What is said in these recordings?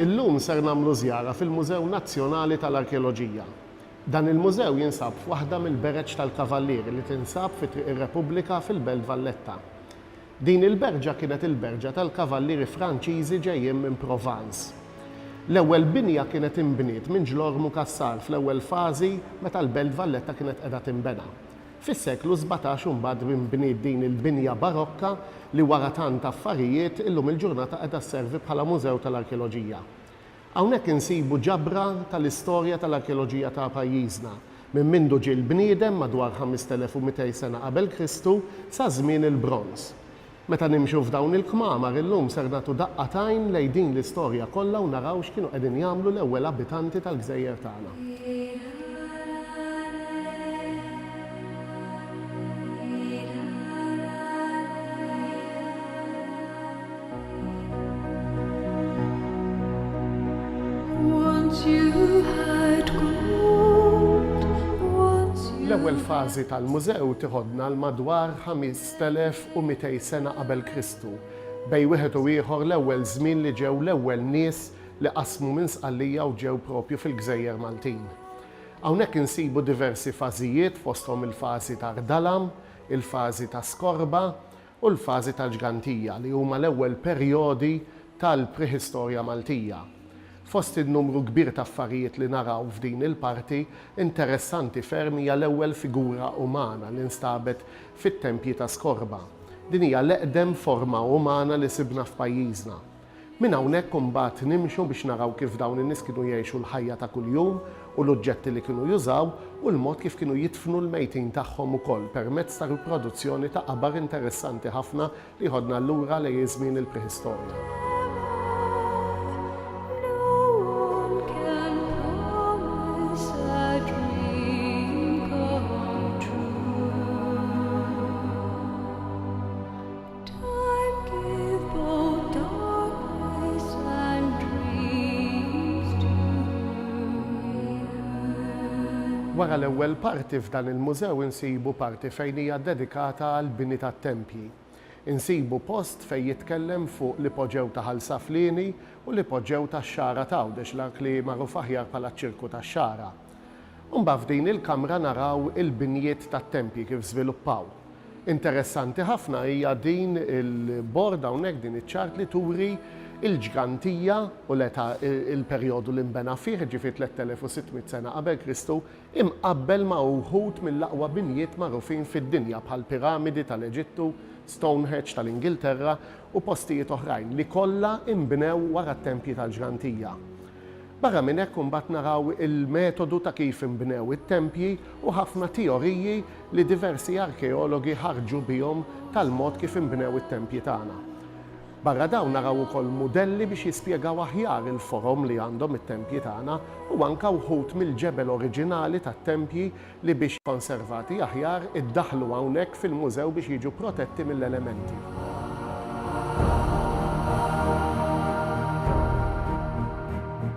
Illum ser nagħmlu żjara fil-Mużew Nazzjonali tal-Arkeoloġija. Dan il-mużew jinsab f'waħda mill-bereġ tal-Kavallieri li tinsab fi Triq ir-Repubblika fil-Belt Valletta. Din il-berġa kienet il-berġa tal-Kavallieri Franċiżi ġejjin minn Provence. L-ewwel binja kienet inbniet minn Ġlormu Cassar fl-ewwel fażi meta l-Belt Valletta kienet qiegħda tinbena. Fis-seklu sbatax imbagħad inbniet din il-binja barokka li wara tant affarijiet illum il-ġurnata qiegħda sservi bħala mużew tal-arkeoloġija. Hawnhekk insibu ġabra tal-istorja tal-arkeoloġija ta' pajjiżna, minn mindu ġie l-bniedem madwar 5200 sena qabel Kristu sa żmien il-Bronż. Meta nimxu f'dawn il-kmamar illum ser nagħtu daqqa t'għajn lejn din l-istorja kollha u naraw x'kienu qegħdin jagħmlu l-ewwel abitanti tal-gżejjer tagħna. L-ewwel fażi tal-mużew tiħodna għal madwar 500 3,200 sena qabel Kristu, bejn wieħed u ieħor l-ewwel żmien li ġew l-ewwel nies li qasmu minn Sqallija u ġew propju fil-gżejjer Maltin. Hawnhekk insibu diversi fażijiet fosthom il-fażi ta' Rdalam, il-fażi ta' Skorba u l-fażi tal-Ġgantija li huma l-ewwel perjodi tal-Preħistorja Maltija. Fost in-numru kbir ta' affarijiet li naraw f'din il-parti, interessanti ferm hija l-ewwel figura umana li nstabet fit-tempji ta' skorba. Din hija l-eqdem forma umana li sibna f'pajjiżna. Minn hawnhekk imbagħad nimxu biex naraw kif dawn in-nies kienu jgħixu l-ħajja ta' kuljum u l-uġġetti li kienu jużaw u l-mod kif kienu jidfnu l-mejtin tagħhom ukoll permezz ta' riproduzzjoni ta' qabar interessanti ħafna Jieħodna lura lejn iż-żmien il-prehistorja. Wara l-ewwel parti f'dan il-mużew insibu parti fejn hija ddedikata għall-bini tat-tempji. insibu post fejn jitkellem fuq l-ipoġew ta' Ħal Saflieni u l-ipoġew tax-Xagħra t'Għawdex l-ark li magħruf aħjar bħala ċ-Ċirku tax-Xagħra. Imbagħad f'din il-kamra naraw il-binjiet tat-tempji kif żviluppaw. Interessanti ħafna hija din il-bord hawnhekk, din iċ-chart li turi l-ġgantija u l-età, il-perjodu li nbena fih, jiġifieri 3600 sena qabel Kristu, imqabbel ma' uħud mill-aqwa binjiet magħrufin fid-dinja bħall-Piramidi tal-Eġittu, Stonehedge tal-Ingilterra u postijiet oħrajn li kollha inbnew wara t-tempji tal-ġrantija. Barra minn hekk imbagħad naraw il-metodu ta' kif inbnew it-tempji u ħafna teoriji li diversi arkeologi ħarġu bihom tal-mod kif inbnew it-tempji tagħna. Barra dawn naraw ukoll mudelli biex jispjegaw aħjar il-forom li għandhom it-tempji tagħna u anke wħud mill-ġebel oriġinali tat-tempji li biex konservati aħjar iddaħħlu hawnhekk fil-mużew biex jiġu protetti mill-elementi.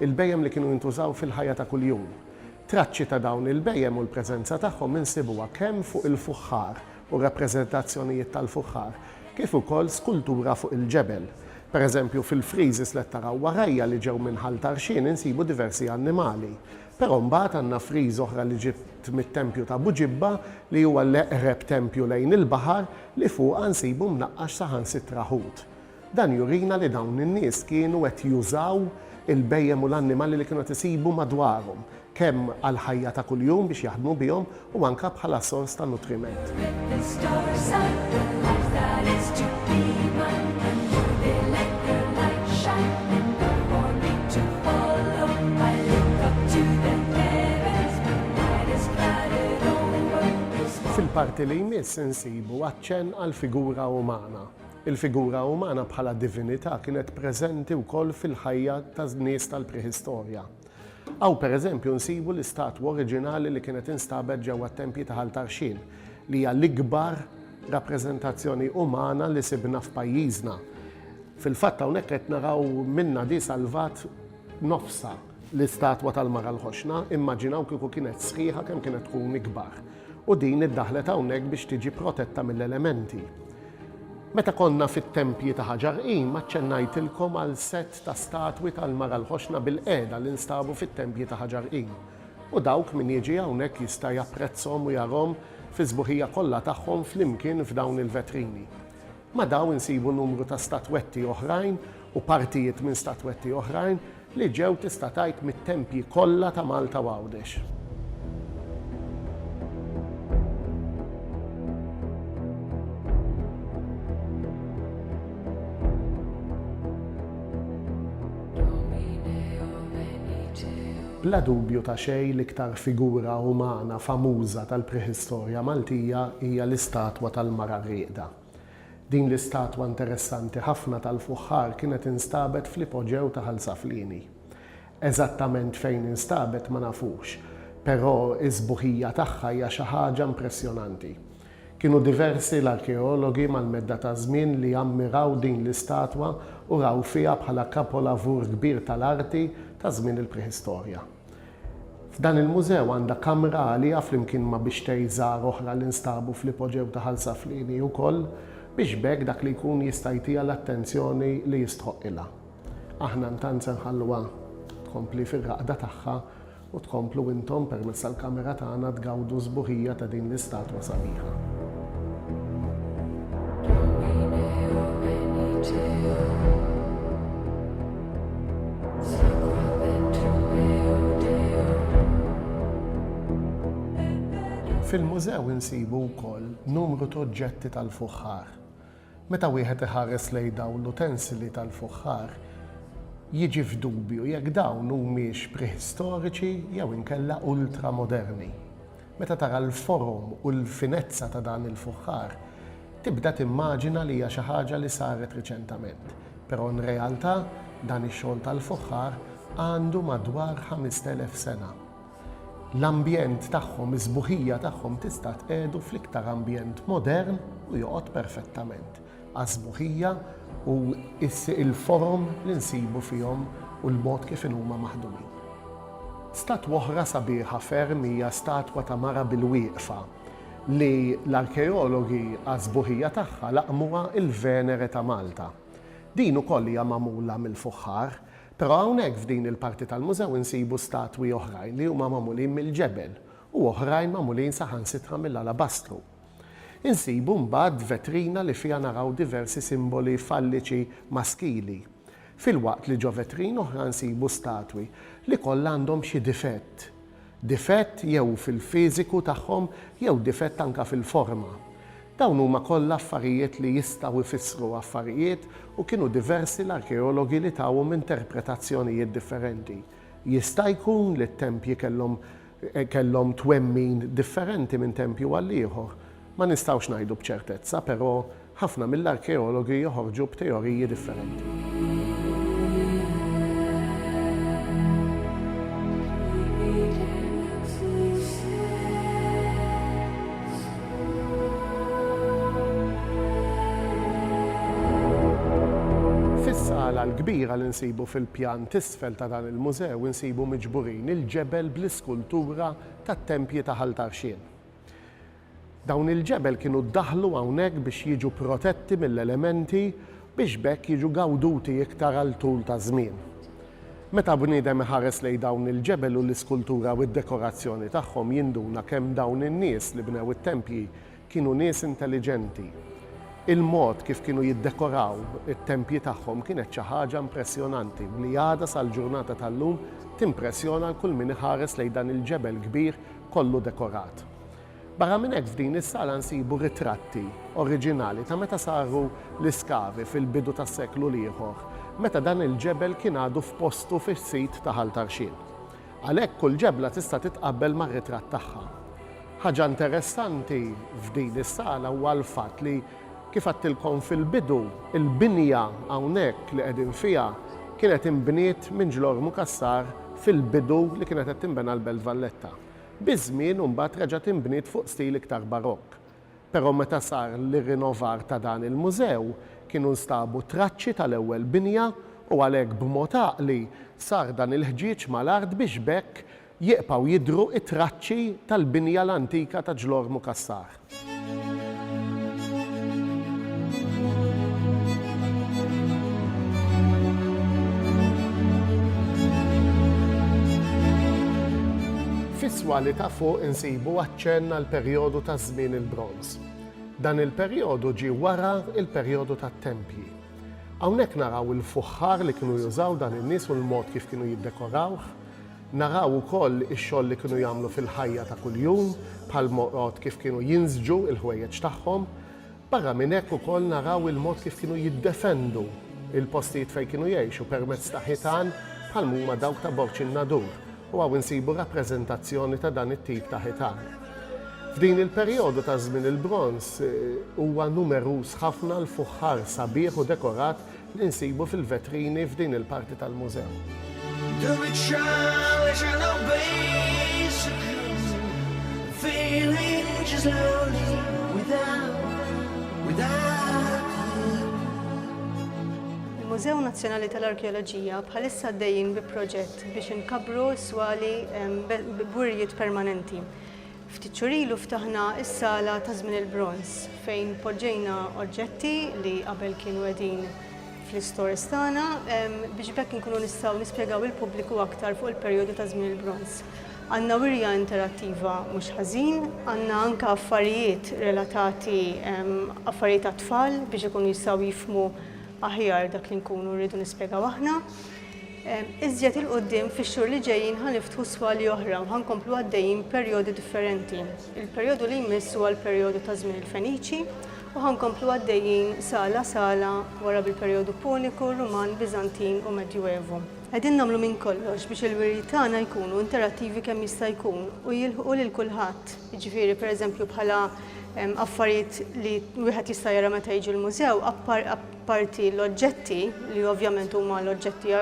Il-bhejjem li kienu jintużaw fil-ħajja ta' kuljum. Traċċi ta' dawn il-bhejjem u l-preżenza tagħhom insibuha kemm fuq il-fuħħar u rappreżentazzjonijiet tal-fuħħar, kif ukoll skultura fuq il-ġebel. Pereżempju, fil-friżes li qed taraw warajja li ġew minn Ħal Tarxien insibu diversi annimali. Però mbagħad għandna friża oħra li ġiet mit-tempju ta' Buġibba li huwa l-eqreb tempju lejn il-baħar li fuqha nsibu mnaqqax saħansitra ħut. Dan jurina li dawn in-nies kienu qed jużaw il-bhejjem u l-annimali li kienu qed isibu madwarhom, kemm għall-ħajja ta' kuljum biex jaħdmu bihom u anke bħala sors ta' nutriment. Fil-parti li jmiss insibu aċċenn għall-figura umana. Il-figura umana bħala divinità kienet preżenti wkoll fil-ħajja tan-nies tal-Preħistorja. Hawn pereżempju nsibu l-istatwa oriġinali li kienet instabet ġewwa t-tempji ta' Ħal Tarxien, li hija l-ikbar rappreżentazzjoni umana li sibna f'pajjiżna. Fil-fatt hawnhekk qed naraw minnha di salvat nofsha. L-istatwa tal-Mara l-Ħoxna immaġinaw kieku kienet sħiħa kemm kienet tkun ikbar u din iddaħħlet hawnhekk biex tiġi protetta mill-elementi. Meta konna fit-tempji ta' ħaġar qim aċċennajtilkom għal sett ta' statwi tal-Mara l-Ħoxna bilqiegħda li nstabu fit-tempji ta' ħaġar qim u dawk min jiġi hawnhekk jista' japprezzhom u jarahom fis-sbuħija kollha tagħhom flimkien f'dawn il-vetrini. Ma' dawn insibu numru ta' statwetti oħrajn u partijiet minn statwetti oħrajn li ġew tista' tgħid mit-tempji kollha ta' Malta u Għawdex. Bla dubju ta' xejn l-iktar figura umana famuża tal-preħistorja Maltija hija l-istatwa tal-Mara Rieqda. Din l-istatwa interessanti ħafna tal-fuħħar kienet instabet fl-ipoġew ta' Ħal Saflieni. Eżattament fejn instabet ma nafux, però is-sbuħija tagħha hija xi ħaġa impressjonanti. Kienu diversi l-arkeologi mal-medda taż-żmien li ammiraw din l-istatwa u raw fiha bħala kapolavur kbir tal-arti ta' żmien il-Preħistorja. F'dan il-mużew għandha kamra għaliha flimkien ma' bixtej żgħar oħra li nstabu fl-ipoġew ta' Ħal Saflieni ukoll biex b'hekk dak li jkun jista' jtiha l-attenzjoni li jistħoqqilha. Aħna ntant se nħalluha tkompli fir-raqda tagħha u tkomplu intom permezz tal-kamera tagħna tgawdu sbuħija ta' din l-istatwa sabiħa. Fil-mużew insibu wkoll numru ta' oġġetti tal-fuħħar, Meta wieħed iħares lejn dawn l-utensili tal-fuħħar, jiġi f'dubju jekk dawn humiex preħistoriċi jew inkella ultramoderni. Meta tara l-forom u l-finezza ta' dan il-fuħħar, tibda timmaġina li hija xi ħaġa li saret riċentament, però nrealtà dan ix-xogħol tal-fuħħar għandu madwar 5,000 sena. l-ambjent tagħhom, is-sbuħija tagħhom tista' tqiegħdu fl-iktar ambjent modern u joqgħod perfettament għas-sbuħija u l-forom li nsibu fihom u l-mod kif inhuma maħdumin. Statwa oħra sabiħa ferm hija statwa ta' mara bil-wieqfa li l-arkeologi għas-sbuħija tagħha laqmuha l-Venere ta' Malta. Din ukoll hija magħmula mill-fuħħar, Però hawnhekk f'din il-parti tal-mużew insibu statwi oħrajn li huma magħmulin mill-ġebel u oħrajn magħmulin saħansitra mill-alabastru. Insibu mbagħad vetrina li fiha naraw diversi simboli falliċi maskili, filwaqt li ġo vetrin oħra nsibu statwi li kollha għandhom xi difett. difett jew fil-fiżiku tagħhom jew difett anke fil-forma. Dawn huma kollha affarijiet li jistgħu jfissru affarijiet u kienu diversi l-arkeologi li tawhom interpretazzjonijiet differenti. Jista' jkun li t-tempji kellhom kellhom twemmin differenti minn tempju għall-ieħor. Ma nistgħux ngħidu b'ċertezza, però Ħafna mill-arkeologi joħorġu b'teoriji differenti. Fis-sala l-kbira li nsibu fil-pjan t'isfel ta' dan il-mużew insibu miġburin il-ġebel bl-iskultura tat-tempji ta' Ħal Tarxien. Dawn il-ġebel kienu ddaħħlu hawnhekk biex jiġu protetti mill-elementi biex b'hekk jiġu gawduti iktar għal tul ta' żmien. Meta bniedem iħares lejn dawn il-ġebel u l-iskultura u d-dekorazzjoni tagħhom jinduna kemm dawn in-nies li bnew it-tempji kienu nies intelliġenti. Il-mod kif kienu jiddekoraw it-tempji tagħhom kienet xi ħaġa impressjonanti u li għadha sal-ġurnata tal-lum timpressjona 'l kull min iħares lejn dan il-ġebel kbir kollu dekorat. Barra minn hekk f'din is-sala nsibu ritratti oriġinali ta' meta saru l-iskavi fil-bidu tas-seklu l-ieħor, meta dan il-ġebel kien għadu f'postu fis-sit ta' Ħal Tarxien. Għalhekk kull ġebla tista' titqabbel mar-ritratt tagħha. Ħaġa interessanti f'din is-sala huwa l-fatt li, kif għedtilkom fil-bidu, il-binja hawnhekk li qegħdin fiha kienet inbniet minn ġlormu Cassar fil-bidu li kienet qed tinbena l-Belt Valletta. Biż-żmien imbagħad reġgħet inbniet fuq stil iktar Barokk. Però meta sar l-irrinovar ta' dan il-mużew, kienu nstabu traċċi tal-ewwel binja u għalhekk b'mod għaqli sar dan il-ħġieġ mal-art biex b'hekk jieqpgħu jidhru t-traċċi tal-binja l-antika ta' Ġlormu Cassar. Fis-swali ta' fuq insibu aċċenn għall-perjodu ta' żmien il-Bronż. Dan il-perjodu ġie wara l-perjodu tat-tempji. Hawnhekk naraw il-fuħħar li kienu jużaw dan in-nies u l-mod kif kienu jiddekorawh. Naraw ukoll ix-xogħol li kienu jagħmlu fil-ħajja ta' kuljum, bħall-moqgħod kif kienu jinsġu l-ħwejjeġ tagħhom. Barra minn hekk ukoll naraw il-mod kif kienu jiddefendu l-postijiet fejn kienu jgħixu permezz ta' ħitan bħal m'huma dawk ta' Borg in-Nadur u hawn insibu rappreżentazzjoni ta' dan it-tip ta' ħitan. F'din il-perjodu ta' żmien il-Bronż huwa numeruż ħafna l-fuħħar sabiħ u dekorat li nsibu fil-vetrini f'din il-parti tal-mużew. Il-Mużew Nazzjonali tal-Arkeoloġija bħalissa għaddejjin bi proġett biex inkabbru s-swali b'wirjiet permanenti. Ftit xhur ilu ftaħna s-Sala ta' Żmien il-Bronż fejn poġġejna oġġetti li qabel kienu qegħdin fl-istores tagħna biex b'hekk inkunu nistgħu nispjegaw lill-pubbliku aktar fuq il-perjodu ta' Żmien il-Bronż. Għandna wirja interattiva mhux ħażin. Għandna anke affarijiet relatati, affarijiet għat-tfal biex ikunu jistgħu jifhmu aħjar dak li nkunu rridu nispjegaw aħna. Iżjed 'il quddiem fix-xhur li ġejjin ħa niftħu swali oħra u ħa nkomplu għaddejjin b'perjodi differenti. Il-perjodu li jmiss huwa l-perjodu ta' żmien il-Feniċi u ħa nkomplu għaddejjin sala sala wara bil-perjodu Puniku, Ruman, Biżantin u Medjuevu. Qegħdin nagħmlu minn kollox biex il-wirjiet tagħna jkunu interattivi kemm jista' jkun u jilħqu lil kulħadd, jiġifieri pereżempju bħala affarijiet li wieħed jista' jara meta jiġi l-mużew, apparti l-oġġetti, li ovvjament huma l-oġġetti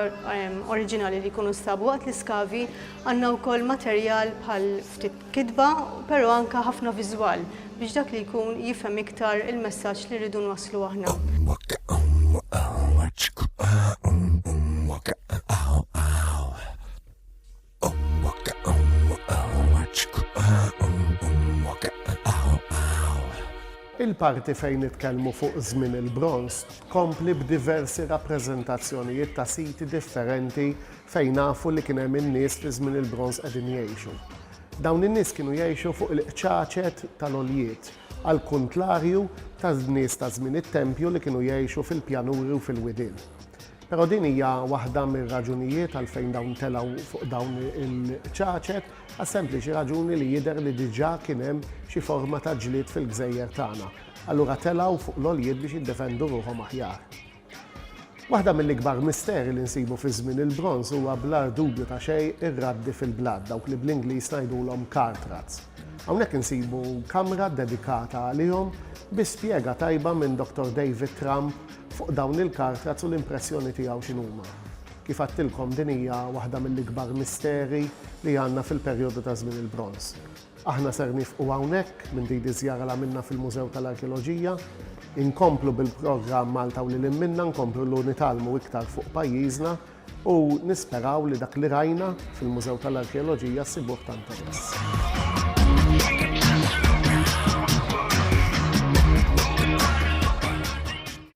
oriġinali li jkunu nstabu waqt l-iskavi, għandna wkoll materjal bħal ftit kitba, però anke ħafna viżwal biex dak li jkun jifhem iktar il-messaġġ li rridu nwasslu aħna. Il-parti fejn nitkellmu fuq żmien il-Bronż tkompli b'diversi rappreżentazzjonijiet ta' siti differenti fejn nafu li kien hemm in-nies fi żmien il-Bronż qegħdin jgħixu. Dawn in-nies kienu jgħixu fuq il-qċaċet tal-għoljiet, għall-kuntlarju tan-nies ta' żmien it-tempju li kienu jgħixu fil-pjanuri u fil-widien. Però din hija waħda mir-raġunijiet għalfejn dawn telgħu fuq dawn il-ċaċet, għas-sempliċi raġuni li jidher li diġà kien hemm xi forma ta' ġlied fil-gżejjer tagħna, allura telgħu fuq l-għoljiet biex jiddefendu ruħhom aħjar. Waħda mill-ikbar misteri li nsibu fi żmien il-Bronż huwa bl-agħar dubju ta' xejn ir-raddi fil-blat, dawk li bl-Ingliż ngħidulhom cart rats. Hawnhekk insibu kamra ddedikata għalihom bi spjega tajba minn Dottor David Trump Fuq dawn il-kartaz u l-impressjoni tiegħu x'inhuma? Kif għedtilkom din hija waħda mill-ikbar misteri li għandna fil-perjodu ta' żmien il-Bronż. Aħna ser nifqu hawnhekk minn din iż-żjara li għamilna fil-Mużew tal-Arkeoloġija. Inkomplu bil-programm Malta u lil hinn minnha, nkomplu lu nitgħallmu iktar fuq pajjiżna u nisperaw li dak li rajna fil-Mużew tal-Arkeoloġija ssibuh ta' interess.